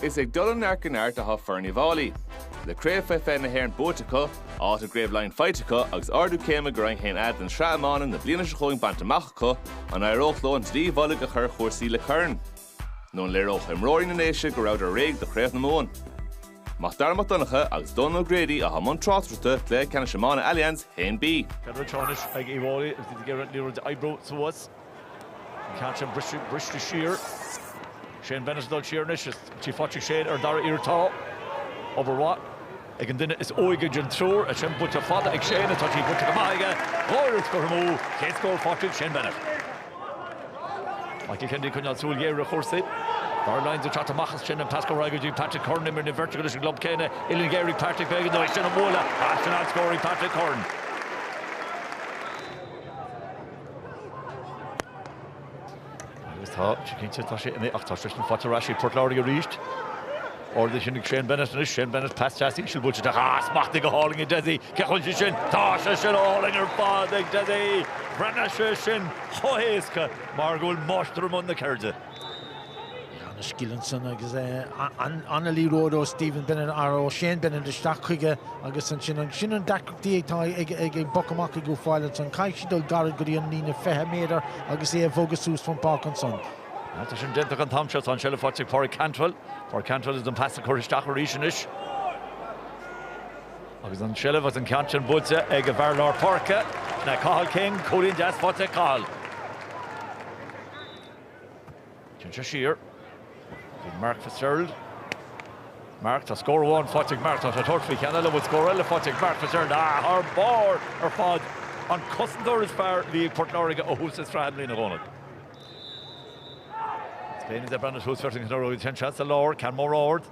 Is ag dul ó neart go neart atá foireann Uíbh Fháilí. Le Craobh Faoi 20 na hÉireann buaite acu, áit i gCraobh Laighean faighte acu agus ardú céime go Roinn 1A den Sraith Iomána na bliana seo chugainn bainte amach acu, an éireodh leo an dlaoi mhullaigh a chur ar chúrsaí le corn? Nó an léireodh imreoirí na nDéise go rabhadar réidh do Chraobh na Mumhan? Mac Dara Mac Donncha agus Dónal O'Grady atá i mbun tráchtaireachta Chluiche Ceannais Iomána Allianz 1B. Ceithre úd anois ag Uíbh Fháilí agus iad ag iarraidh an liathróid a oibriú suas. An ceann sin briste siar. Shane Bennett ag dul siar anois. Is í faighte ag Shane ar an dara iarraidh. Tá obair mhaith ag an duine is óige den triúr. As sin buailte fada ag Shane. Tá sí buailte go maith aige. Dhá iarraidh curtha amú. Chéad scór faighte ag Shane Bennett. Michael Kennedy ag coinneáil súil ghéar ar chúrsaí. Darragh Lyons ag teacht amach as sin. An pas gairid go dtí Patrick Curran. Imríonn an bheirt acu leis an gclub céanna. Uillinn ghéar ag Patrick. B'éigean dó é sin a bhualadh. As sin an-scór ag Patrick Curran. Agus tá sé cinnte tá sé in ach tá sé sin faighte ar ais ag Port Láirge arís. Ard a chinneadh Shane Bennett anois, Shane Bennett pas deas íseal buailte tá smacht aige, ó, go hálainn ag Dessie. Cé a chuireann sé sin? Tá sé sin go hálainn ar fad ag Dessie! Bhreathnaigh sé sin chomh héasca mar go bhfuil máistir i mbun na ceirde. An-scil ansan agus an-liathróid ó Stephen Bennett, ar ó Shane Bennett isteach chuige agus ansin, an sin an deacracht atá ag an bpoc amach ag Uíbh Fháilí ansan, caithfidh siad dul gairid go dtí an líne 20 méadar agus é a bhogadh suas fan páirc ansan. Agus tá sin déanta acu an t-am seo, tá an seilbh faighte ag Pauric Cantwell. Pauric Cantwell is an pas curtha isteach arís anois. Agus an seilbh agus an ceann sin buailte ag a bhfear lár páirce, Cathal King, cúilín deas faighte ag Cathal. Téann sé siar chuig Mark Fitzgerald. Mark, tá scór amháin faighte ag Mark. Tá sé ag tabhairt faoi cheann eile, an bhfuil scór eile faighte ag Mark Fitzgerald. Ah, thar barr ar fad. An cosantóir is fearr a bhí ag Port Láirge ó thús na sraithe i mbliana, a Dhónaill. Déanann sé breathnú suas, ansin Mark Troy. Téann sé as sa lár, ceann mór ard.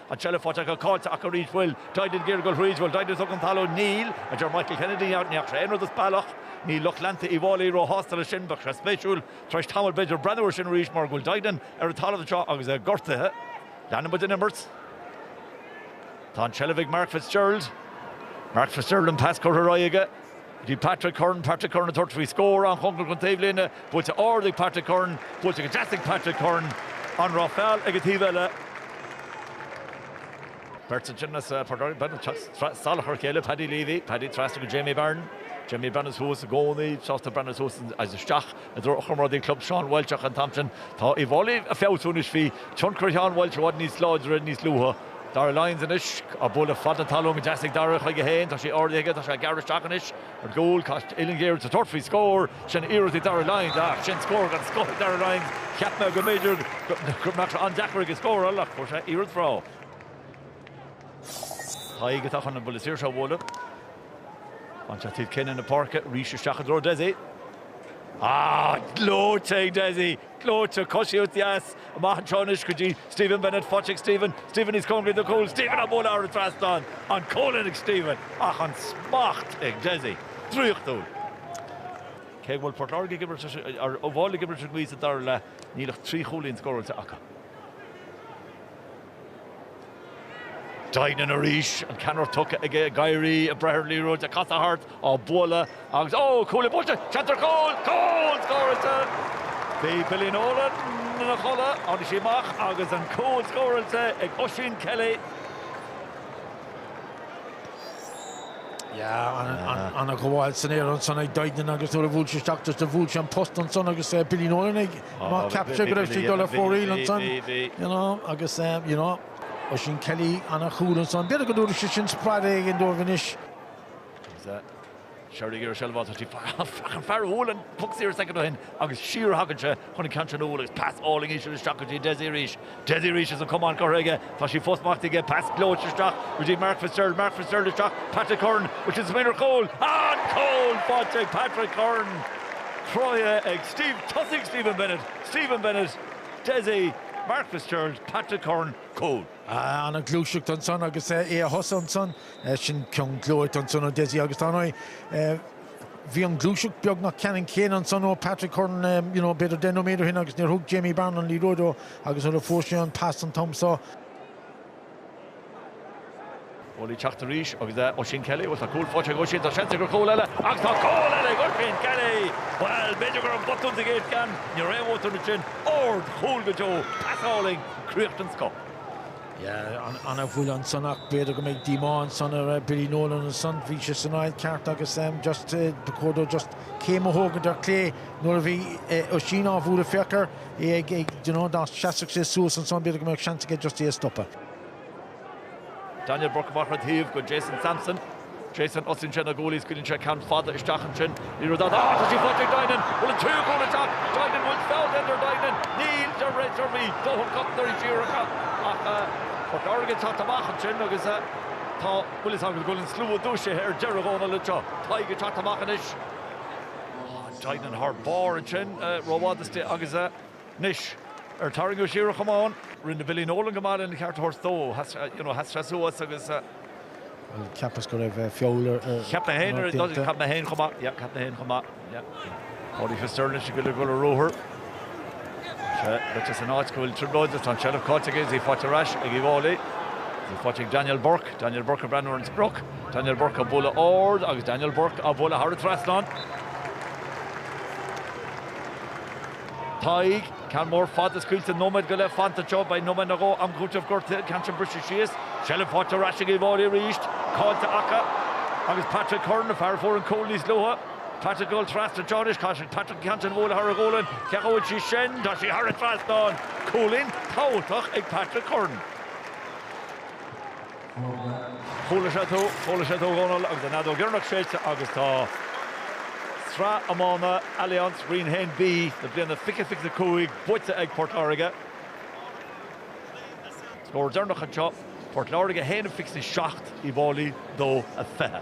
An tseilbh faighte acu, caillte acu arís, an bhfuil Duignan ag iarraidh a dhul thríd, an bhfuil Duignan tugtha chun talún, níl, a deir Michael Kennedy, ní fhaca sé aon rud as bealach, níl lucht leanta Uíbh Fháilí róshásta leis sin, bheadh sé spéisiúil, tar éis tamaill b'fhéidir, breathnú air sin arís mar go bhfuil Duignan ar an talamh anseo agus é gortaithe. Leanann muid an imirt. Tá an tseilbh ag Mark Fitzgerald. Mark Fitzgerald, an pas curtha ar aghaidh aige. Bhí Patrick Curran, Patrick Curran ag tabhairt faoi scór an-chóngarach don taobhlíne. Buailte ard ag Patrick Curran. Buailte go deas ag Patrick Curran. An raibh feall ag an taobh eile? Beirt ansin as Port Láirge, beirt ag teacht salach ar a chéile, Paddy Leavey, Paddy trasna go Jamie Barron. Jamie ag breathnú suas i gcónaí, sásta breathnú suas agus isteach. I dtreo a chomrádaí club Seán Walsh, ach an t-am seo tá Uí bhFáilí ag feabhsú anois. Bhí tionchar Sheáin Walsh i bhfad níos láidre níos luaithe. Darragh Lyons anois. Á bualadh fada an talún go deas ag Darragh chuige féin. Tá sé ardaithe aige, tá sé ag gearradh isteach anois ar chúl. Caith uillinn ghéar sa toirt faoi scór. Sin iarracht ag Darragh Lyons. Ach sin scór den scoth ag Darragh Lyons. Cheap mé go mb'fhéidir go mbeadh sé an-deacair aige scóráil ach fuair sé iarraidh bhreá. Tadhg atá chun an buille saoirse a bhualadh. Baintear taobhlíne na páirce arís isteach i dtreo Desi. Ah, gleoite ag Desi! Gleoite, coisíocht deas, amach anseo anois go dtí Stephen Bennett, faighte ag Stephen, Stephen níos cóngaraí do chúl, Stephen á bualadh thar an trasnán! An cúilín ag Stephen, ach an smacht ag Desi! Draíochtúil! Cé go bhfuil Port Láirge ag imirt Uíbh Fhailí ag imirt leis an ngaoth sa dara leath, níl ach trí chúilín scóráilte acu. Duignan arís, an ceann ard tugtha aige ag éirí, ag breith ar an liathróid, ag casadh thart, á bualadh agus, ó! cúl oscailte! Seans ar chúl! Cúl scóráilte! Bhí Billy Nolan ina chodladh, tháinig sé amach agus an cúl scóráilte ag Oisín Kelly. Yeah, an-ghabháil san aer ansan ag Duignan agus nuair a bhuail sé isteach, just bhuail sé an post ansan agus Billy Nolan ag. Má cheap sé go raibh sí ag dul ar fóraoil ansan, you know, agus, eh, you know, Oisín Kelly ana chúl ansan, b'fhéidir go dtabharfadh sé sin spré éigin dóibh anois. Agus, eh, saor i seilbh atá sí, feicim fear a bhuail an poc saor soicind ó shin agus siar a thagann sé chun an ceann seo a bhualadh agus pas álainn íseal isteach go dtí Dessie arís. Dessie arís is an camán curtha aige, tá sí fós smachtaithe aige, pas gleoite isteach go dtí Mark Fitzgerald, Mark Fitzgerald isteach, Patrick Curran istigh ar chúl, an cúl faighte ag Patrick Curran, cruthaithe ag Steve, tosaigh Stephen Bennett, Stephen Bennett, Dessie, Mark Fitzgerald, Patrick Curran, cúl. Ana ghluaiseacht ansan agus é a thosnú ansan, sin ceann gleoite ansan ó Dessie agus tá an. Bhí an ghluaiseacht beagnach ceannann céanna ansan ó Patrick Curran you know b'fhéidir deich nóiméad ó shin agus níor thug Jamie Barron an liathróid dó agus nuair a fuair sé an pas an t-am seo, Ball ag teacht arís agus é Oisín Kelly, bhuel tá cúl faighte ag Oisín, tá seans aige ar chúl eile agus tá cúl eile ag Oisín Kelly! Bhuel, b'fhéidir go raibh botún sa gcéad cheann, ní raibh aon bhotún ansin, ardchúl go deo, pas álainn, críoch den scoth. Yeah, an-chúl ansan ach b'fhéidir go mbeidh díomá ansan ar Billy Nolan ansan, bhí sé san áit ceart agus just ba chóir dó just céim a thógaint ar chlé nuair a bhí Oisín á bhualadh féachadh é ag ag do you know dá seasfadh sé suas ansan b'fhéidir go mbeadh seans aige just é a stopadh. Daniel Bourke amach ar a thaobh go Jason Sampson Jason, tosaíonn sé na goalies, scaoileann sé ceann fada isteach ansin, ní raibh dabht ach tá sí faighte ag Duignan, bhuel an tríú cúl isteach, Duignan bhfuil feall ar Duignan, níl de rith ar bith, dóthain cosantóirí siar acu ach. Port Láirge teacht amach ansin agus tá, bhuel is dóigh go bhfuil an slua dúisithe ar deireadh, Dhónal, anseo, Tadhg ag teacht amach anois, Duignan thar barr ansin, rófhada istigh agus. Anois, ar tarraingíodh siar é chugam ann? Rinne Billy Nolan go maith lena cheart a thabhairt dó, you know, sheas sé suas agus. Bhuel, cheapas go raibh feall air go cinnte. Cheap mé féin, cheap mé féin chomh maith, yeah, cheap mé féin chomh maith, yeah. Paudie Fitzgerald anois ag dul ar ruathar. Tá sé beirt as an áit go bhfuil trioblóid agus tá an tseilbh caillte aige, is í faighte ar ais ag Uíbh Fháilí. Is í faighte ag Daniel Bourke, Daniel Bourke ag breathnú ar an sprioc, Daniel Bourke ag bualadh ard agus Daniel Bourke á bhualadh thar an trasnán. Tadhg, Ceann mór fada scaoilte nóiméad go leith fanta anseo, beidh nóiméad nó dhó am cúitimh gortuithe ceann sin briste síos, seilbh faighte ar ais ag Uíbh Fháilí arís, caillte acu agus Patrick Curran, an fear a fuair an cúl níos luaithe, Patrick ag dul trasna anseo anois, caithfidh Patrick an ceann sin a bhualadh thar a ghualainn, cá bhfuil sí sin, tá sí thar an trasnán! Cúilín tábhachtach ag Patrick Curran. Chuala sé tú, chuala sé tú, a Dhónaill, agus an fheadóg dheireanach séidte agus tá Sraith Iomána Allianz Roinn 1B na bliana 2025 buaite ag Port Láirge. Scór deireanach anseo, Port Láirge 1-27, Uíbh Fháilí 2-20.